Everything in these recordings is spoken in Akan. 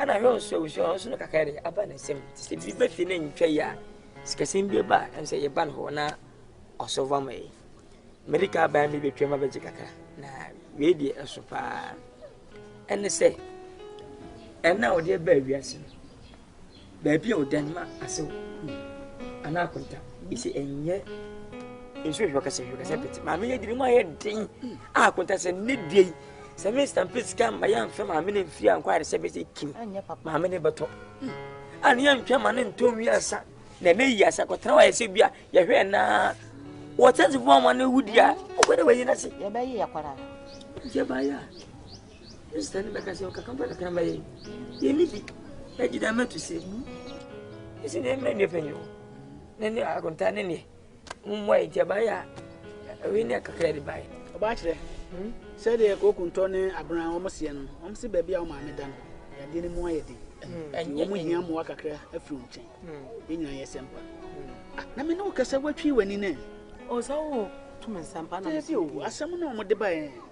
Ɛna hwɛ nso abusua hɔ nso no kakra de aba ne nsam nti sɛ biribi bɛfi ne ntwa yi a sikasɛm bi ba a ɛm sɛ yɛba no hɔ na ɔsɔva ma yi mede ka baa mi bɛtwam abɛgye kakra na wei deɛ ɛso paa ɛne sɛ ɛna ɔde ɛbaa wiase no baabi a ɔda no ma asew anaa akonta ɛsɛ ɛnyɛ nso hwɛ kɛsɛ hwɛ kɛsɛ pete maame yɛ diri mu ayɛ den a akonta sɛ ne deɛ yi sɛ me stampe sika mma yɛ mfɛ maame ne mfiri ankɔ ayɛ sɛ bɛsɛ kim maame ne bɛtɔ a ne yɛ ntwa ma ne ntɔ nwi asa na ɛmɛ yi asa kɔtena wayɛ sɛ bi a yɛhwɛ naa wɔtɛnse fo ama ne wudi a ɔkɔ dɛ wɔyi n'ase yɛbɛyi yɛ kɔra yɛbɛyɛ a Kristoni bɛka sɛ ɔkakraba na kraba yɛ yɛnni bi agye dɛ ama to sɛ mu ɛsi ne mmerɛ nneɛ panyin hɔ ne ne akonta ne neɛ mmoa yɛ nti abayɛ a ɛwe ne akakra de baeɛ ɔbaakyerɛ hmm? sɛdeɛ kokuntɔ ne abena wɔn seɛ no wɔn se baabi a wɔn maame da no yadeɛ no mu ayɛ den hmm. wɔn hia mmoa kakra afiri wɔn nkyɛn hmm. yɛn nyinaa yɛ sɛmpa ah, na me ne wo kasa watwi w'ani nɛ ɔsɛ wo tumi nsɛmpa na asɛm na wɔn de baeɛ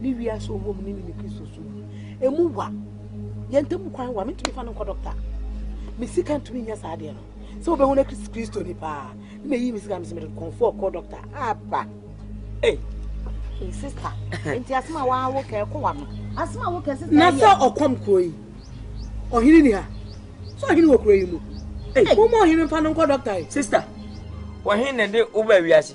ne wiase a ɔwɔ mu ne ne ne kristo so mu ɛmu wa yɛn ntam kwan wa mentumi fa no nkɔ dɔkta me sika ntumi nya saa adeɛ no sɛ wobɛhu no kristo ni paa ne na ɛyi me sika mesɛ mede kɔmfoɔ kɔ dɔkta aba ei sista nti asɛm a waawo kɛ ɛkɔ wa no asɛm a wokɛ sista na sɛ ɔkɔm kuro yi ɔhene ni ha sɛ ɔhene wɔ kuro yi mu ei woma ɔhene mfa no nkɔ dɔkta yi sista ɔhene na ɛde woba wiase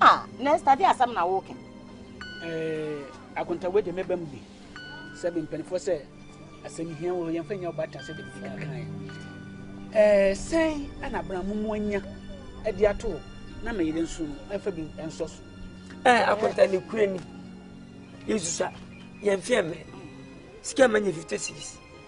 Ah, Nesta, de asɛm na woke. Eh, akontawe de meba mu bi. Sɛ me mpanimfoɔ sɛ asɛm hia wɔ yɛmfa nya ɔba atra sɛ de medi kan kaeɛ. Eh, sɛn ana abramo mu anya de ato na me yere nso no ɛfa bi ɛnsɔ so. Eh, akonta ne kura ni. Yesusa, yɛmfeɛ mɛ. Sika ma nyɛ 50 cities.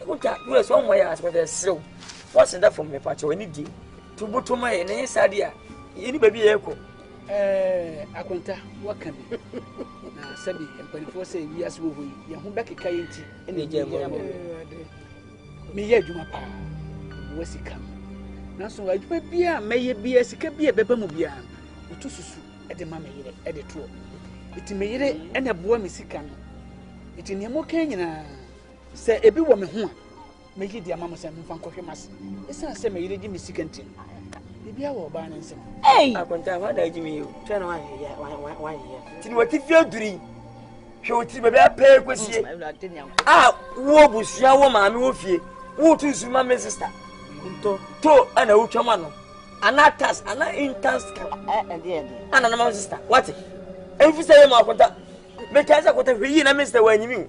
Wotwa US wɔn mɔ yɛ asopɔtɔ ɛserew fɔsi da fam mɛpa kyɛw ɛni die tubutu ma yɛ ne saa deɛ yɛni baabi yɛ kɔ. Ɛɛ akonta waka bi na sɛbi mpanimfoɔ sɛ wiase wɔ hɔ yi yɛn ho bɛkeka yɛn ti ɛna ɛgya ɛbɔ ɛbɔ meyɛ adwuma paa wɔ sika mu nanso adwuma biara mɛyɛ biara sika bi a ɛbɛba mu biara wotu susu ɛde ma meyere ɛde toɔ ɛti meyere ɛna ɛboa me sika no ɛti nneɛma ɔka nyinaa Sɛ ebi wɔ me ho a, meyi de ama mo sɛ memfa nkɔhwɛ m'ase. Esiane sɛ me yere gye me sika nti no, biribiara wɔ ɔbaa no nsam. Akonta, hɔ adaa gye me yi o. Twɛ na wayeyɛ. Nti na wɔte fie aduru yi. Hwɛ wo tiri baabi apɛɛ kwasie. Mm, a wo abusua wo maame wɔ fie. Wotu nsu ma me sista. To ɛna wotwa mu ano. Ana tas ana intas kan. Ana na ma me sista. Wate? Ɛmfi sɛ yɛ mu akonta. Mekaa sɛ akonta hwɛ yie na me sista wɔ anyimi o.